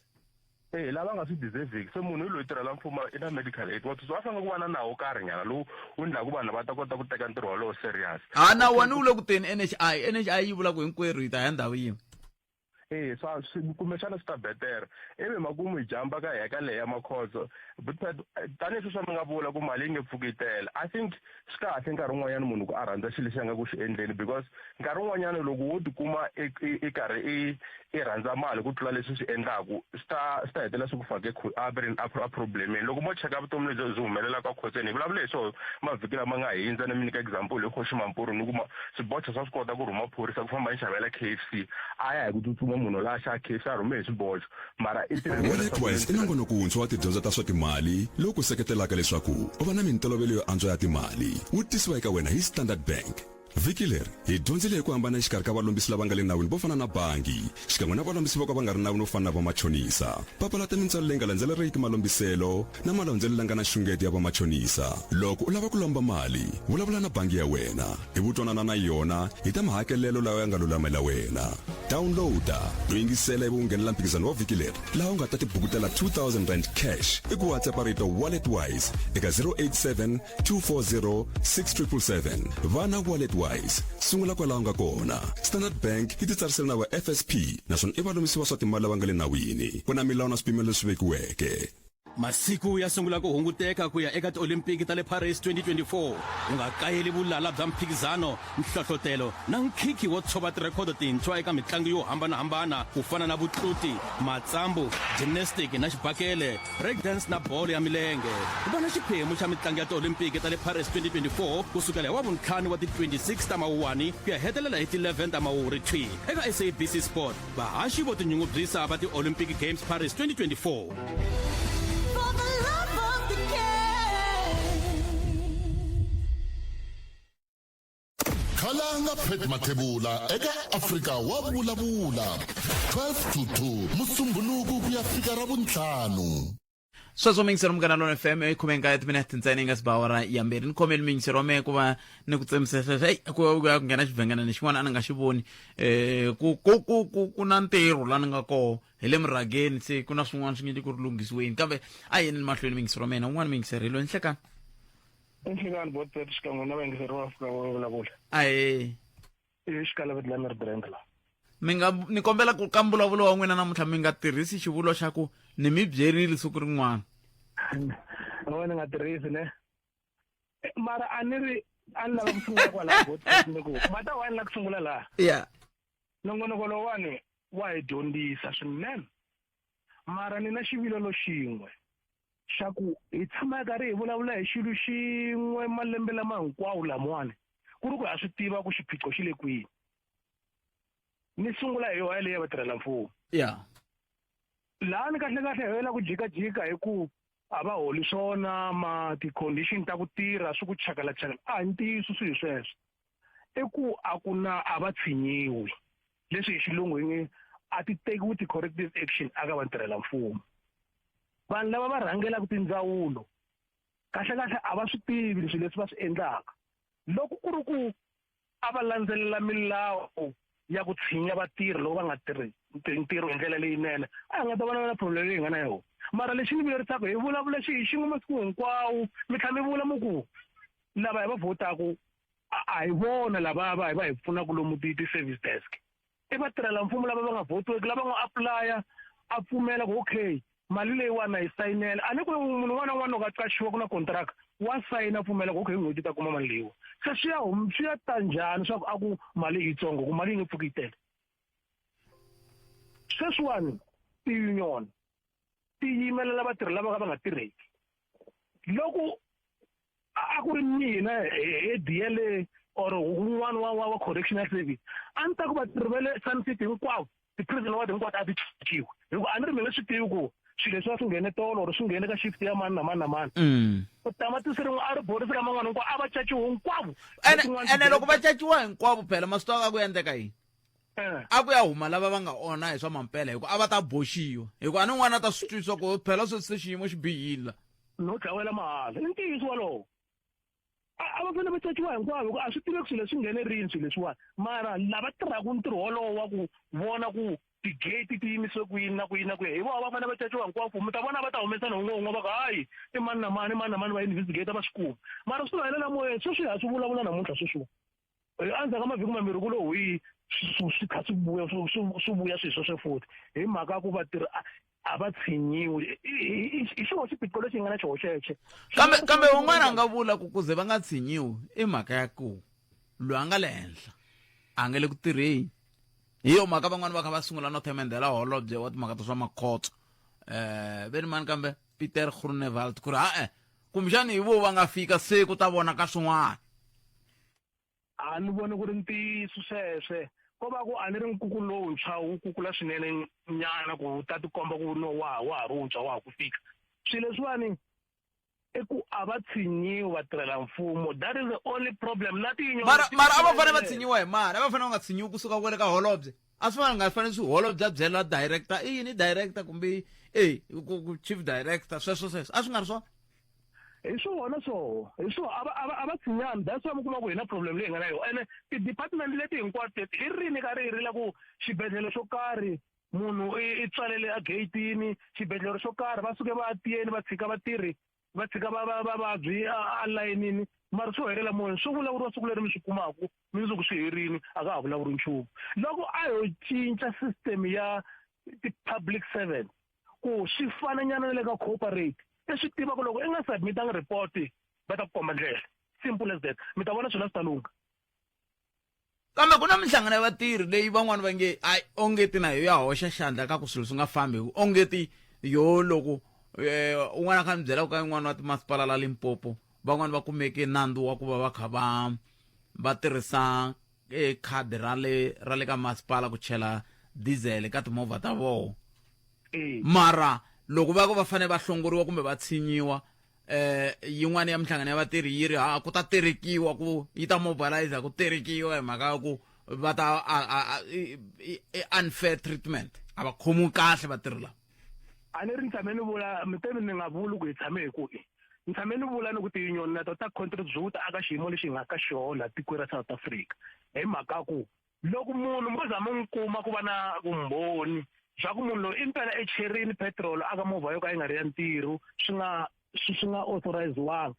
e lava nga swi deserviki se munhu hi loyi tirhela mfumo i na medical aid wati a fanele ku va na nawu wo karhi nyana lowu wu endlaku vanhu va ta kota ku teka ntirho wolowo serious ha na wani wu le ku teni nhi nhi yi vula ku hinkwerhu hi ta ya ndhawu yin'we e swa kumbexana swi ta betere ivi makumu hi jamba ka hi ya ka leya makhodzo tanihi sweswi mi nga vula ku mali yi nge pfuki yi tele i think swi kahle nkarhi wun'wanyana munhu ku a rhandza xilo lexi a nga ku xi endleni because nkarhi wun'wanyana loko wo tikuma i e, e, e karhi i i rhandza mali ku tlula leswi swi endlaku swi ta swi ta hetelela swi ku fake a ve ri a problemeni loko mo cheka vutomi lebyi byi humelelaka a khotseni hi vulavule hi swona mavhiki lama nga hindza ni mi nyika example hi khoxi mampuru ni kuma swibocha swa swi kota ku rhuma phorisa ku famba ni xavela k f c a ya hi ku tsutsuma munhu la xa k f c a rhume hi swibocha mara i WorldNetWise i nongonoko wuntshwa wa tidyondzo ta swa timali lowu ku seketelaka leswaku u va na mintolovelo yo antswa ya timali wu tisiwa eka wena hi Standard Bank. Vhiki leri hi dyondzile hi ku hambana exikarhi ka valombisi lava nga le nawini vo fana na bangi xikan'we na valombisi vo ka va nga ri nawini vo fana na vamachonisa. Papalata mintswalo leyi nga landzeleleriki malombiselo na malondzelo langa na xungeto ya vamachonisa. Loko u lava ku lomba mali, vulavula na bangi ya wena hi vutwanana na yona hi ta mahakelelo lawa ya nga lulamela wena. Downloada no yingisela ivi u nghenela mphikizano wa vhiki leri laha u nga ta tibukutela R2000 cash hi ku WhatsApp rito WalletWise eka 087 240 6777. Va na WalletWise. Sungula kwalaho nga kona. Standard Bank yi titsarisele na va FSP naswona i valomisi va swa timali lava nga le nawini. Ku na milawu na swipimelo leswi vekiweke. masiku ya sungula ku hunguteka ku ya eka tiolimpiki ta le paris 2024 u nga kayeli vulala bya mphikizano nhlohlotelo na nkhikhi wo tshova tirhekhodo tintshwa eka mitlangu yo hambanahambana ku fana na vutluti matsambu gymnastic na xibakele breakdance na bolo ya milenge ku va na xiphemu xa mitlangu ya tiolimpiki ta le paris 2024 ku sukela hi wavuntlhanu wa ti-26 ta mawuwani ku ya hetelela hi ti-11 ta mawuwuri thwi eka sabc sport vahaxi vo tinyungubyisa va ti-olympic games paris 2024 khalanga pet mathevula eka afrika wa vulavula 12 to 2 musumbhuluku ku ya fika ra vuntlhanu sweswo mingisero munghana lona fm yi khome nkaye timinete ntsena yi nga si ba awara ya mbirhi ni khomeli mingisero wa mehe ku va ni ku tsemisa sweswo eyi ku ku ya ku nghena xivhengelana xin'wana a ni nga xi voni um ku ku ku ku ku na ntirho la ni nga koho hi le murhageni se ku na swin'wana swi nge ku ri lunghisiweni kambe a yeni ni mahlweni mingisero wa mina un'wana mingisero hi loyi nhlekani nhlekani botpet xikan'we na vayingiseri va fika va vulavula ahee xikalaveti la ni ri brand la mi nga ni kombela ku ka mbulavulo wa n'wina namuntlha mi nga tirhisi xivulwa xa ku ni mi byerile siku rin'wana no ni nga tirhisi ne mara a ni ri a ni lava ku sungula kwalaha ni ku mata wa ni la ku sungula laha ya nongonoko lowani wa hi dyondzisa swinene mara ni na xivilelo xin'we xa ku hi tshama hi karhi hi vulavula hi xilo xin'we malembe lama hinkwawo lamawani ku ri ku ha swi tiva ku xiphiqo xi le kwihi ni sungula hi yoha leyi ya vatirhela mfumo ya laha ni kahle kahle hi yela ku jikajika hi ku a va holi swona ma ti-condition ta ku tirha swi ku chakala chakala a hi ntiyiso swi hi sweswo i ku a ku na a va tshinyiwi leswi hi xilungu hi nge a ti tekiwi ti-corrective action aka vatirhela mfumo vanhu lava va rhangelaka tindzawulo kahlekahle a va swi tivi leswi leswi va swi endlaka loko ku ri ku a va landzelela milawu ya ku tshinya vatirhi loko va nga tirhi ntirho hi ndlela leyinene a hi nga ta vona na problem leyi hi nga na yona mara lexi ni vuyerisaka hi vulavula xi hi xin'we masiku hinkwawo mi tlhela mi vula mu ku lava hi va votaku a hi vona lava va hi va hi pfunaka lomu ti-service desk i vatirhela mfumo lava va nga votiweki lava nga apulaya a pfumela ku okay mali leyiwani na yi sayinela a ni ku munhu un'wana na un'wana loko a qaxiwa ku na kontraka wa sayina pfumela ku okay hi n'hweti ta kuma mali leyiwa se swi ya hum- swi ya ta njhani swa ku a ku mali i yitsongo ku mali yi nge pfuki yi tele sweswiwani tiunion ti yimelela vatirhi lava ka va nga tirheki loko a ku ri mina he diyele or un'wana wa wa correctional service a ni ta ku vatirhi va le sun city hinkwavo ti-prison ward hinkwato a ti chichiwe hikuva a ni ri mina swi tivi ku swilo leswi a swi nghene tolo or swi nghene ka shift ya mani na mani na mani mm. ku tamatisi rin'we a ri borisi ka man'wana hinkwawo a va caciwe hinkwavo ene loko va caciwa hinkwavo phela maswi tiva ka ku endleka yini eh. a ku ya huma lava va nga onha hi swa mampela hikuva a va ta boxiwa hikuva a ni n'wana a ta swi twisisa ku phela sweswi se xiyimo xi bihile la no dlawela mahala i ntiyiso walowo a va fanele va caciwa hinkwavo ku a swi tiveki swilo leswi nghenerini swilo leswiwani mara lava tirhaka ntirho wolowo wa ku vona ku tigate ti yimise ku yini na ku yini na ku yini hi vona va fanele va caciwa hinkwavo mi ta vona va ta humesa na un'we un'we va ku hayi i mani na mani i mani na mani va investigate va swi kuma mara swi va helela moyeni sweswi ha swi vulavula namuntlha sweswiwa endzhaku ka mavhiki mambirhi ku lo hwi swi kha swi vuya swi vuya swilo sweswe futhi hi mhaka ya ku vatirhi a va tshinyiwi hi xona xiphiqo lexi hi nga na xona xexo kambe kambe un'wana a nga vula ku kuze va nga tshinyiwi i mhaka ya ku loyi a nga le henhla a nga le ku tirheni hi yo mhaka van'wani va kha va sungula no themendhela holobye wa timhaka ta swa makhotso um eh, ve ni mani kambe Pieter Groenewald ku ri ha-e kumbexani hi vo va nga fika se ku ta vona ka swin'wana a ni voni ku ri ntiyiso sweswe ko va ku a ni ri nkukulu lowuntshwa wu kukula swinene nyana ku wu ta tikomba ku no wa wa ha ri wuntshwa wa ha ku fika swilo leswiwani i ku a va tshinyiwi vatirhela mfumo that is the only problem na tinyomara a va fanele va tshinyiwa hi mani a va fanele va nga tshinyiwi kusuka kwele ka holobye a swi nga fanele swi holobya byela director i yini director kumbe e chief director sweswo sweswo a swi nga ri swona hi swona swoho hi swo a va a va a va tshinyani that's why mi kuma ku hi na problem leyi hi nga na yona ene ti-department leti hinkwato teti i rini ka ri hi ri la ku xibedhlele xo karhi munhu i tswalele a geyitini xibedhlele xo karhi va suke va tiyeni va tshika vatirhi va tshika va va vavabyi alayinini mara swi helela moyeni swi vulavuriwa siku leri mi swi kumaka mi ndzi ku swi herini a ka ha vulavuri nchumu loko a yo cinca system ya ti-public servant ku swi fananyana na le ka cooperate i swi tivaka loko i nga submitanga report va ta ku komba ndlela simple as that mi ta vona swilo swi ta lungha Kambe ku na minhlangano ya vatirhi leyi van'wana va nge a ongeti na yo ya hoxa xandla ka ku swilo swi nga fambi hi ku ongeti yo loko eh, un'wana a kha ni byela ku ka yin'wana wa timasipala la limpopo van'wana va kumeke nandzu wa ku va va kha va va tirhisa eh, khadi ra le ra le ka masipala ku chela diesel ka timovha ta vona mara loko va ku va fanele va hlongoriwa kumbe va tshinyiwa eh yin'wana ya minhlangano ya vatirhi yi ri ha ku ta terekiwa ku yi ta mobilizer ku terekiwa hi mhaka ya ku va ta unfair treatment a va khomiwi kahle vatirhi lava a ni ri ni tshame ni vula miteni ni nga vuli ku hi tshame hi ku ni tshame ni vula ni ku tiyunyoni na to ta contribute aka xiyimo lexi hi nga ka xona tiko ra south africa hi mhaka ku loko munhu mo za mu n'wi kuma ku va na vumbhoni bya ku munhu loyi i mpela echerini petirolo aka movha yo ka yi nga ri ya ntirho swi nga swi swi nga authoriziwanga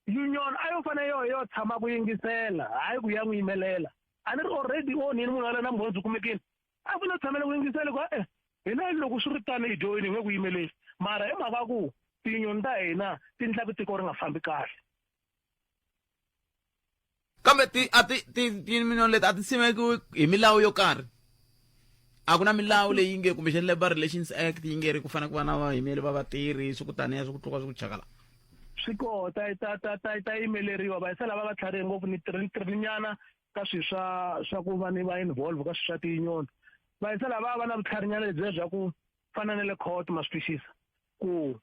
union a yo fanele yoho yo tshama ku yingisela hayi ku ya n'wi yimelela a ni ri already onhini munhu waloye na mbhonzi u kumekini a fanele u tshamela ku yingisela ku e hina loko swi ri tani hi dyoyini hi nge ku yimeleli mara hi mhaka ku tinyoni ta hina ti ndla ku tiko ri nga fambi kahle kambe ti a ti ti timinoni leti a ti simekiwi hi milawu yo karhi a ku na milawu leyi nge kumbexani labor relations act yi nge ri ku fanele ku va na vayimeli va vatirhi swi ku taniya swi ku tluka swi ku chakala swi koho ta ta ta ta ta yimeleriwa va yisa lava va tlharihe ngopfu ni tirininyana ka swilo swa swa ku va ni va involve ka swilo swa tiyinyoni va yisa lava va na vutlharinyana lebyiya bya ku fana na le court ma swi twisisa ku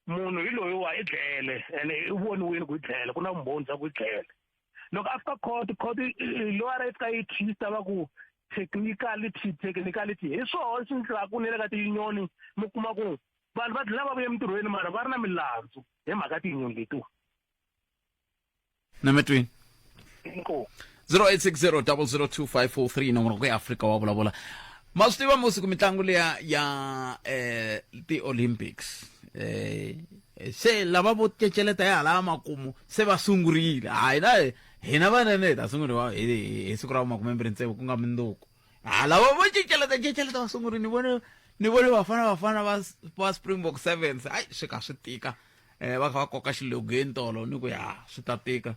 munhu hi loyi wa i dlele ene i voniwini ku i dlele ku na vumbhoni bya ku i dlele loko a fika court court lower yi fika yi twista va ku technicality technicality hi swona swi ndlaku ni le ka tiyunioni mi kuma ku vanhu va dlina va vuye emintirhweni mara va ri na milandzu hi mhaka tiyunioni letiwa nametweni inkosi 0860002543 nomoro ku ya afrika wa vulavula ma swi tiva musiku mitlangu leya ya eh ti-olympics eh se lava vo ceceleta ya hala makumu se va sungurile hayi na hina vanene hi ta sunguriwa hi hi siku ra vumakumembirhi ntsevu ku nga mundzuku hala vo vo ceceleta ceceleta va sunguri ni vone ni vone vafana vafana va va springbok sevens hayi swi kha swi tika um va kha va koka xilogeni tolo ni ku ya swi ta tika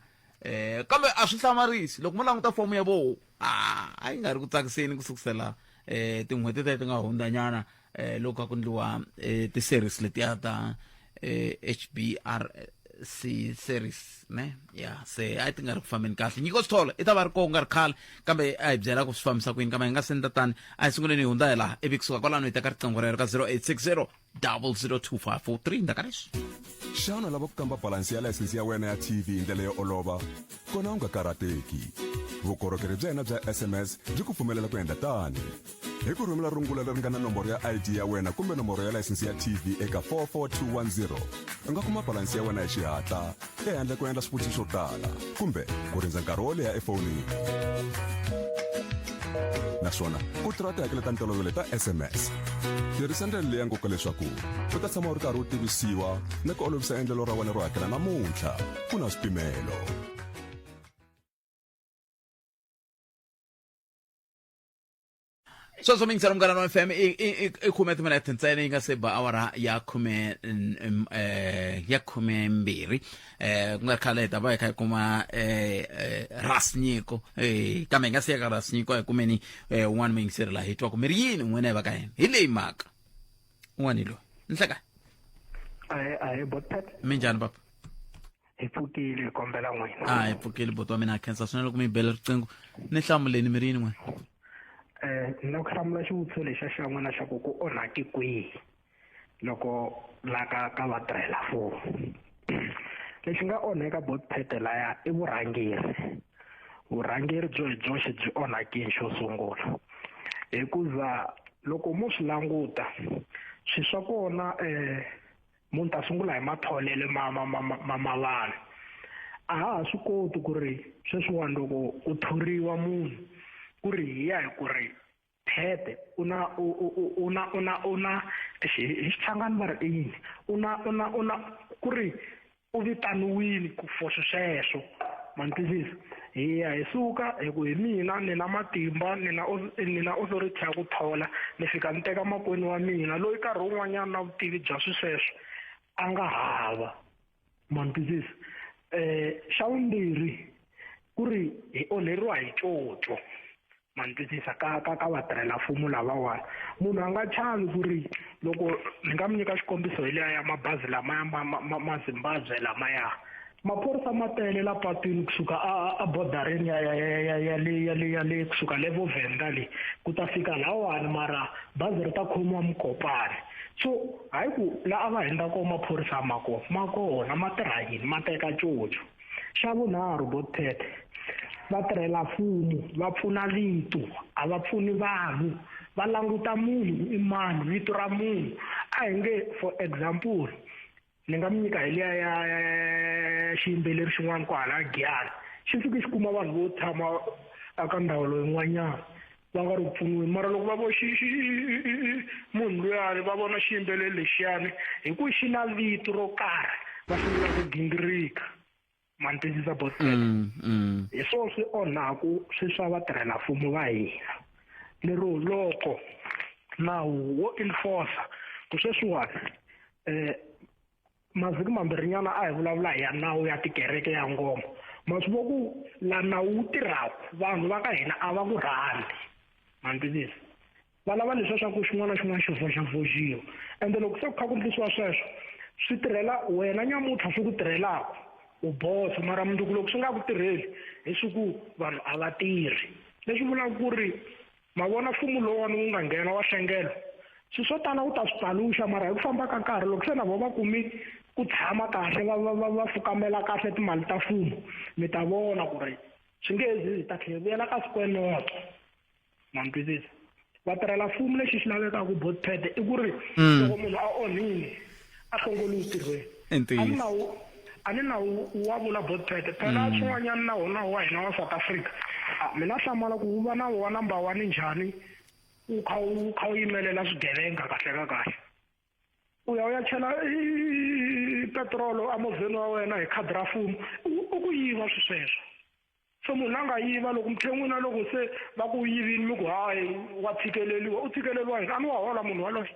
um kambe a swi hlamarisi loko mo languta fomo ya voho a yi nga ri ku tsakiseni ku sukusela um tin'hweti tete ti nga hundzanyana eh loko a ku ndliwa eh, ti-series letiya ta eh, hbr si series ne ya se a ti nga ri ku fambeni kahle nyiko swi thola i ta va ri koho nga ri khale kambe a hi byela ku swi fambisa ku yini kambe hi nga senda tani a hi sunguleni hi hundza hi laha ivi kusuka kwalano hi teka riqingho rero ka 0860 002543 ndaka leswi xana lava ku kamba balansi ya layisense ya wena ya tv hi ndlela yo olova kona u nga karhateki vukorhokeri bya hina bya sms byi ku pfumelela ku endla tani hi ku rhumela rungula leri nga na nomboro ya id ya wena kumbe nomboro ya layisense ya tv eka 44210 u nga kuma balansi ya wena hi xihatla ehandle ku endla swivutiso swo tala kumbe ku rindza nkarhi wo leha efonini naswona ku tirha tihakelo ta ntolovelo ta sms tirhisa ndlela leyi ya nkoka leswaku u ta tshama u ri karhi u tivisiwa ni ku olovisa endlelo ra wena ro hakela namuntlha ku na swipimelo sweswo mi yingisela munghana wa fm i- i- i- i khume timinete ntsena yi nga se ba awara ya khume n- m- eh, ya khume mbirhi eh ku nga ri khale hi ta va hi kha hi kuma eh, eh, ras nyiko eh, kambe hi nga si ya ka ras nyiko hi kumeni eh, un'wana mi yingiseri laha hi twa ku mi ri yini n'wina hi va ka yena hi leyi mhaka un'wana hi loyi ni hleka ahe ahe botpet mi njhani papa hi pfukile hi kombela n'wina a hi pfukile boti wa mina a khensa swinene loko mi bela riqingho ni hlamuleni mi ri yini n'wina um ni lava ku hlamula xivutiso lexa xa n'wina xa ku ku onhake kwihi loko la ka ka vatirhela four lexi nga onheka bot pete laya i vurhangeri vurhangeri byo hi byoxe byi onhakini xo sungula hikuza loko mo swi languta swi swa kona um munhu ta sungula hi matholele ma ma ma ma ma vanhu a ha ha swi koti ku ri sweswiwani loko u thoriwa munhu ku ri hi ya hi ku ri phete u na u u na u na u na hi xichangani va ri i yini u na u na u na ku ri u vitaniwile ku for sweswo ma ni twisisa hi ya hi suka hi ku hi mina ni na matimba ni na ni na authority ya ku thola ni fika ni teka makwini wa mina loyi nkarhi wun'wanyana na vutivi bya swisweswo a nga hava mantwisisa um xa vumbirhi ku ri hi onheriwa hi coco ma ni twisisa ka ka ka vatirhela mfumo lavawani munhu a nga chavi ku ri loko ni nga mi nyika xikombiso hi leya ya mabazi lamaya ma ma ma ma zimbabwe lamaya maphorisa ma tele la patwini kusuka a a bordereni ya ya ya ya ya le ya le ya le kusuka le vovenda le ku ta fika lawani mara bazi ri ta khomiwa mukopani so hayi ku la a va hindza kona maphorisa ma kona ma kona ma tirha yini ma teka coco xa vunharhu godpet vatirhela mfumo va pfuna vito a va pfuni vanhu va languta munhu ku i mani vito ra munhu a hi nge for example ni nga mi nyika hi liya ya xiyimbeleri xin'wana ku hala giyani xi fike xi kuma vanhu vo tshama eka ndhawu loyin'wanyana va nga ri pfuniwi mara loko va vo munhu luyani va vona xiyimbeleri lexiyani hi ku xi na vito ro karhi va sungula ku gingirika mantindzisa bosele mm, mm. hi swona swi onhaku swi swa vatirhela mfumo va hina lero loko nawu wo enforcer ku sweswiwani um eh, mavhiki mambirhinyana a hi vulavula hi ya nawu ya tikereke ya ngoma ma swi vo ku la nawu wu tirhaka vanhu va ka hina a va ku rhandzi mantivisi va lava leswi swa ku xin'wana na xin'wana xi voxavoxiwa ende loko se ku kha ku ndlisiwa sweswo swi tirhela wena nyamutlha swi ku tirhelaka u boso mara mundzuku loko swi nga ku tirheli hi swi ku vanhu a va tirhi leswi vulaka ku ri ma vona mfumo lowani wu nga nghena wa hlengelo swi swo tala wu ta swi paluxa mara hi ku famba ka nkarhi loko se na vo va kumi ku tshama kahle va va va va fukamela kahle timali ta mfumo mi ta vona ku ri swi nge zi zi ta tlhela vuyela ka sikwenoto ma mi twisisa vatirhela mfumo lexi xi lavekaka both pad i ku ri loko munhu a onhile a kongoli u tirhweni I ntiyiso. a ni na wu- a ni na wu- wa vula botpete phela swin'wanyana na wona wa hina wa south africa Ah, mina hlamala ku wu va na wa number one njhani wu kha wu kha wu yimelela swigevenga kahle ka kahle u ya u ya chela i- petrolo emovheni wa wena hi khadi ra mfumo u u ku yiva swi sweswo so munhu la nga yiva loko muthen'wina loko se va ku yivini mi ku hayi wa tshikeleliwa u tshikeleliwa yini a ni wa hola munhu waloye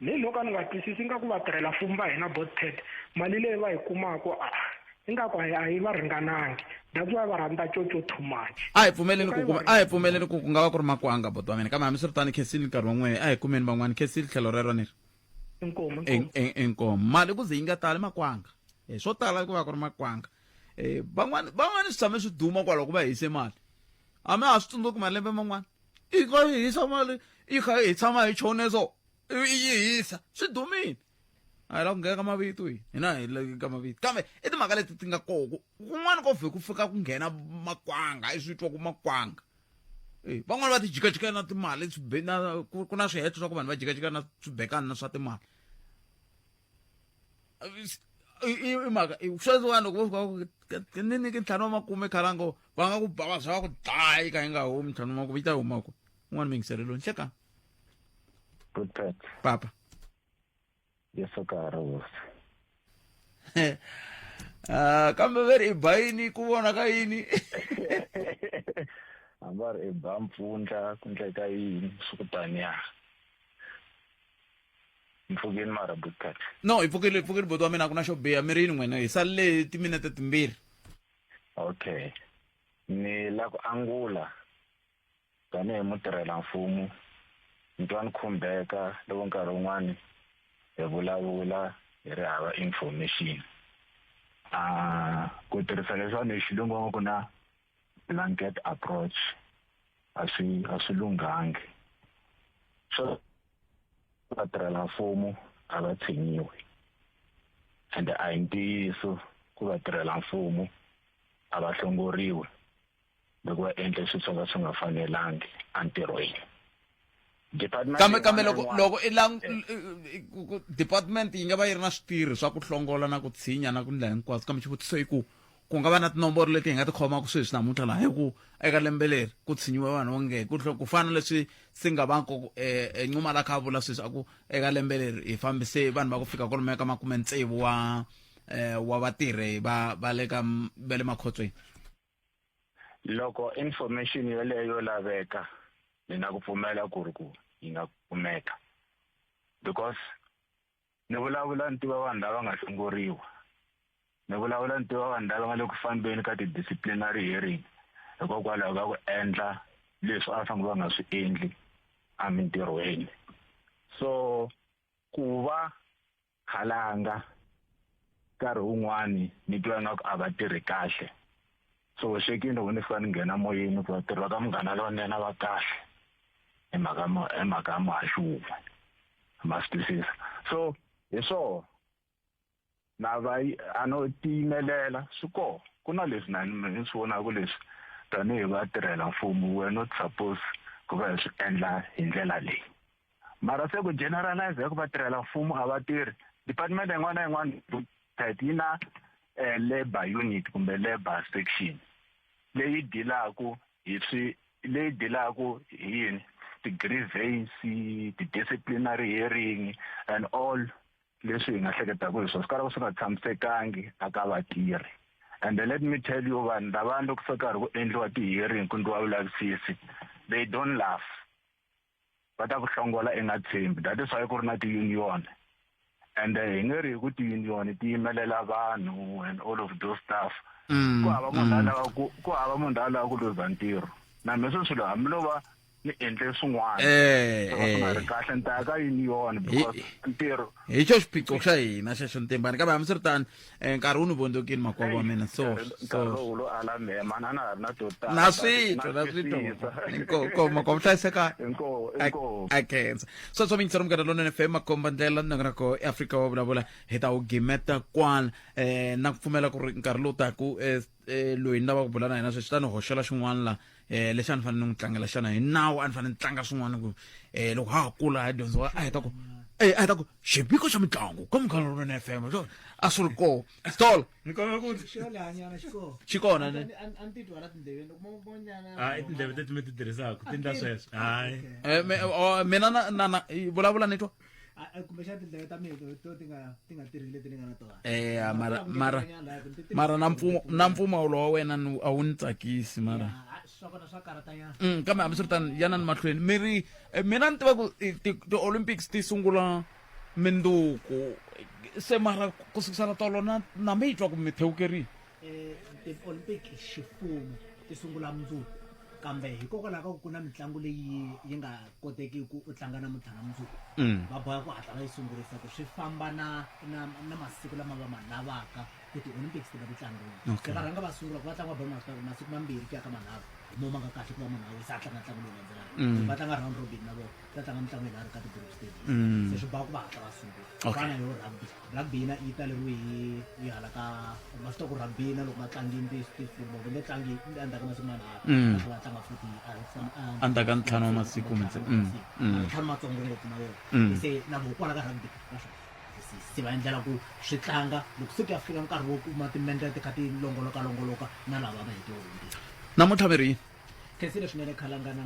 ni loko a ni nga twisisi ingaku vatirhela-mfumo va hina botpad mali leyi va yi kumaka a ingaku a yi va ringanangi that's why va rhandza coco too much a hi pfumeleni ku kuma a hi pfumeleni ku ku nga va ku ri makwanga boto wa mina kambe hambiswiritani khensile nkarhi wan'wini a hi kumeni van'wani khensile tlhelo rero ni ri inkomo inkomo mali ku ze yi nga tali makwanga hi swo tala ku va ku ri makwanga um van'wani van'wani swi tshame swi duma kwalaho ku va hise mali a mi ha swi tsundzuki malembe man'wana i kha i hisa mali i kha i tshama hi chone so i yi hisa swi dumile a hi la ku nghena ka mavito hi hina hi le ka mavito kambe i timhaka leti ti nga koko kun'wana ko vhe ku fika ku nghena makwanga i swi twa ku makwanga Eh, van'wana va ti jikajika na timali swibe- na- ku ku na swiheto swa ku vanhu va jikajika na swibekani na swa timali i mhaka sweswi vanhu loko vo fika ku ni nyike ntlhanu wa makume khalango va nga ku ba va byela ku dlayi ka yi nga humi ntlhanu wa makume yi ta huma ku un'wana mingiseleloni hlekani Butet. Papa. Yesu ka ha ri hosi. Ah, kambe ve ri i ba yini ku vona ka yini hamba ri i ba mpfundla ku ndleka yini swi ku taniya mpfukeni mara butkat no hi pfukile hi pfukile boti wa mina a ku na xo biha mi ri yini n'wina hi salele timinete timbirhi okay ni la ku angula tanihi mutirhela mfumu ni twa ni khumbeka loko nkarhi wun'wani hi vulavula hi ri hava information a ku tirhisa leswiwani hi xilungu va ku na blanket approach a swi a swi lunghangi so vatirhela mfumo a va tshinyiwi ende a hi ntiyiso ku vatirhela mfumo a va hlongoriwi loko va endle swilo swo ka swi nga fanelangi entirhweni kambe kambe loko loko i lang department yi nga va yi ri na switirhi swa ku hlongola na ku tshinya na ku ndlela hinkwaswo kambe xivutiso i ku ku nga va na tinomboro leti hi nga ti khomaka sweswi namuntlha laha hi ku eka lembe leri ku tshinyiwe vanhu onge ku fana leswi si nga va nkoku enquma la kha a vula sweswi a ku eka lembe leri hi fambise vanhu va ku fika kolomo ya ka makume tsevu wa wa vatirhi va va le ka va le makhotsweni loko information yeleyo yo laveka ni na ku pfumela ku ri ku yi nga kumeka because ni vulavula ni tiva vanhu lava nga hlongoriwa ni vulavula ni tiva vanhu lava nga le ku fambeni ka ti-disciplinary hearing hikokwalaho ka ku endla leswi a fanele va nga swi endli emintirhweni so ku va khalanga nkarhi wun'wani ni twa ingaku a va tirhi kahle so xekini loko ni fika ni nghena moyeni ku vatirhi va ka munghana lonene va kahle hi mhaka hi mhaka ya muhaxi wun'we ma swi twisisa so hi swoho na va a no tiyimelela swi koho ku na leswi na ni swi vonaka leswi tanihi vatirhela mfumo wena u suppose ku va hi swi endla hi ndlela leyi mara se ku generalize ku vatirhela mfumo a va tirhi department yin'wana na yin'wana tet yi na eh, labor unit kumbe labor section leyi dilaku hi swi leyi dilaku hi yini ti-grievance ti-disciplinary hearing and all leswi hi nga hleketaka hi swona swi karhi swi nga tshamisekangi a ka vatirhi and let me tell you vanhu lavani loko se karhi ku endliwa ti-hearing ku ndliwa vulavisisi they don't laugh va ta ku hlongola i nga tshembi that is why ku ri na ti-union and eh, hi nge ri hi ku ti-union ti yimelela vanhu and all of those stuff mm, ku hava munhu mm. alava ku hava munhu la alava ku luza ntirho na mina swi swilo hambi lova ni endle swin'wana eh, swi nga eh. ri kahle ni ta ya ka union because ntirho hi xo xiphiqo xa hina xexo ntimbani kambe hambi swi ri tani Eh, nkarhi wu ni vondzokini makwavo wa mina so so nkarhi lowu lo ala mehe mani a na ha ri na to tala na switwa na switwa inkomu inkomu makwavo hlayiseka inkomu a inkomu a khensa so so mingisero munghana lonene fm makomba ndlela na ngana ko eafrika wa vulavula hi ta wu gimeta kwala eh na ku pfumela ku ri nkarhi lowu taku eh eh, loyi ni lava ku bula na yena sweswi ta ni hoxela xin'wana la um lexi a ni fanele ni n'wi tlangela xana hi nawu a ni fanele ni tlanga swin'wana ku um loko ha ha kula ha dyondzo a heta ku e a heta ku xipiko xa mitlangu ka munghana lowunene f m a swi ri koo stol xi kona ne tindleve teti mi ti tirhisaka ti ndla sweswo hayi mina vulavula ni twa eya eh, mara mara mara na mpfumo na mpfumawulo wa wena ni a wu ni tsakisi mara mm, kambe hambiswiritano yana ni mahlweni mi ri eh, mina ni tiva ku eh, ti-olympics ti sungula minduku se mara ku sukisana tolo na na mi yi twa ku mi thewukerile ti-olympic ximfumo ti sungula mundzuku kambe hikokwalaho ka ku ku na mitlangu leyi yi nga kotekiki ku u tlanga namuntlha na mundzuku va boha ku hatla va yi sungurisa ku swi famba na na na masiku lama va ma lavaka ku ti-olympics ti va ti tlangiwa se va rhanga va sungula ku va tlanga va ba masiku mambirhi ku ya ka manharhu hi mo ma nga kahle ku va munhu a wisa a tlanga ntlangu lowu landzelaka va tlanga round robin na vona va tlanga mitlangu yinharhu ka ti-group stage se swi boha ku va hatla va sungula fana yo rugby Rhagbina yi taleriwe hi hi hala ka ma swi tiva ku rhagbina loko va tlangini ti ti kumbe va nge tlangi endzhaku ka masiku manharhu Mm. va tlanga futhi a hi fam- a- Endzhaku ka ntlhanu wa masiku kumbe se- mm, mm. ntlhanu matsongo ngopfu na wona Mm. se na vona kwala ka rugby va swi twisisa. se va endlela ku swi tlanga loko se ku ya fika nkarhi wo kuma timendla ti kha ti longolokalongoloka na lava va hete wonke namuntlha mi ri yini khensile swinene khalangana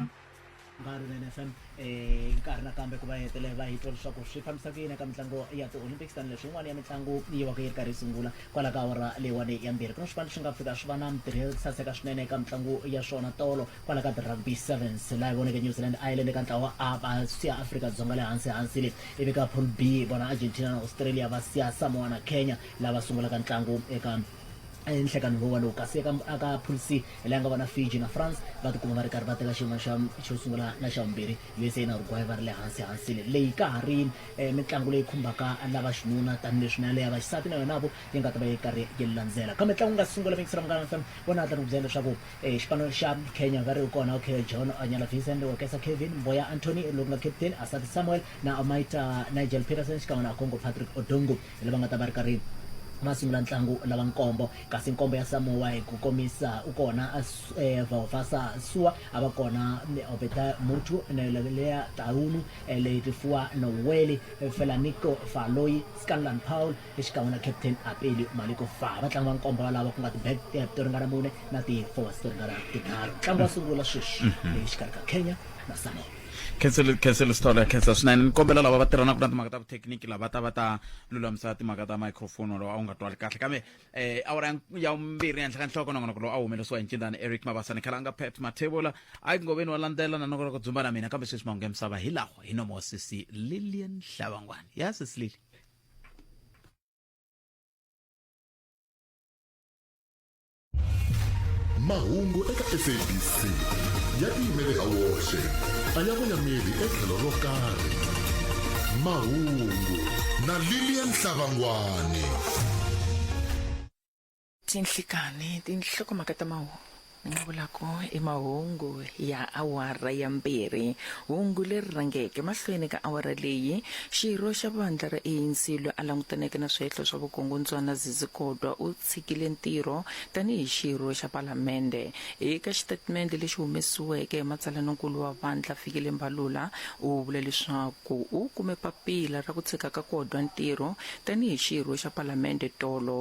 nkarhi na nfm eh, nkarhi nakambe ku va hetele va hi twa leswaku swi fambisa ku yini eka mitlango ya ti-olympics tanihileswi yin'wana ya mitlango yi va ku yi ri karhi yi sungula kwala ka awara leyiwani ya mbirhi ku na swipano swi nga fika swi va na mitirhi ya saseka swinene eka mitlango ya swona tolo kwala ka ti-rugby sevens laha yi voneke new zealand ireland eka ntlawa a va siya afrika dzonga le hansi hansi le ivi ka pool b vona argentina na australia va siya samoa na kenya lava sungulaka ntlangu eka ehenhla ka nhungu walowo kasi eka aka poolc leyi nga vona fiji na france va tikuma va ri karhi va teka xiyimo xa xo sungula na xa vumbirhi usa na uruguay va ri le hansi hansini leyi ka ha ri eh, mitlangu leyi khumbaka lava xinuna tanihileswi na leya va xisati na yonavo yi nga ta va yi karhi yi landzela kambe ntlangu nga sungula vekisela munghana fm vona hatla ni ku byela leswaku eh, xipano xa kenya va ri kona okay john anyala vincent wakesa kevin mboya antony loku nga captain asati samuel na amaita nigel peterson xikan'we na congo patrick odongo lava nga ta va ri karhi va sungula ntlangu lava nkombo kasi nkombo ya samoa hi ku komisa u kona eh, vaofasa sua a va kona obeta mutu neleleya taunu eh, leyi tifuwa noweli eh, felanico faloyi scanlan paul exikan'we na captain apeli maliko fa va tlanga va nkombo valava ku nga ti-back tap to ringana mune na ti-forwards to ringana tinharhu ntlangu wa sungula sweswi exikarhi mm-hmm. ka kenya na samoa khensele khensele sithole khensa swinene ni kombela lava va tirhanaka na timhaka ta vuthekiniki lava ta va ta lulamisa timhaka ta microphone walowo a wu nga twali kahle kambe eh awara ya nk- ya vumbirhi henhla ka nhloko nongonoko lowu a wu humelesiwa hi ncindani eric mabasa ni khalanga pet mathevula a yi ngoveni wa landzela na nongonoko dzumba na mina kambe sweswi mahungu ya misava hi lawa hi nomo sisi lilian hlavangwani ya sisi lili mahungu eka sabc ya tiyimele ha woxe a ya voyameli etlhelo ro karhi mahungu na lilian hlavangwane tinhlikani tinhlokomhaka ta mahungu nga vulaka i mahungu ya awara ya mbirhi hungu leri rhangeke mahlweni ka awara leyi xirho xa vandla ra anc loyi a langutaneke na swihehlo swa vukungundzwana zizikodwa u tshikile ntirho tanihi xirho xa Palamende. Eka xitatimende lexi humesiweke hi matsalanonkulu wa vandla, Fikile Mbalula u vule leswaku u kume papila ra ku tshika ka Kodwa ntirho tanihi xirho xa Palamende tolo.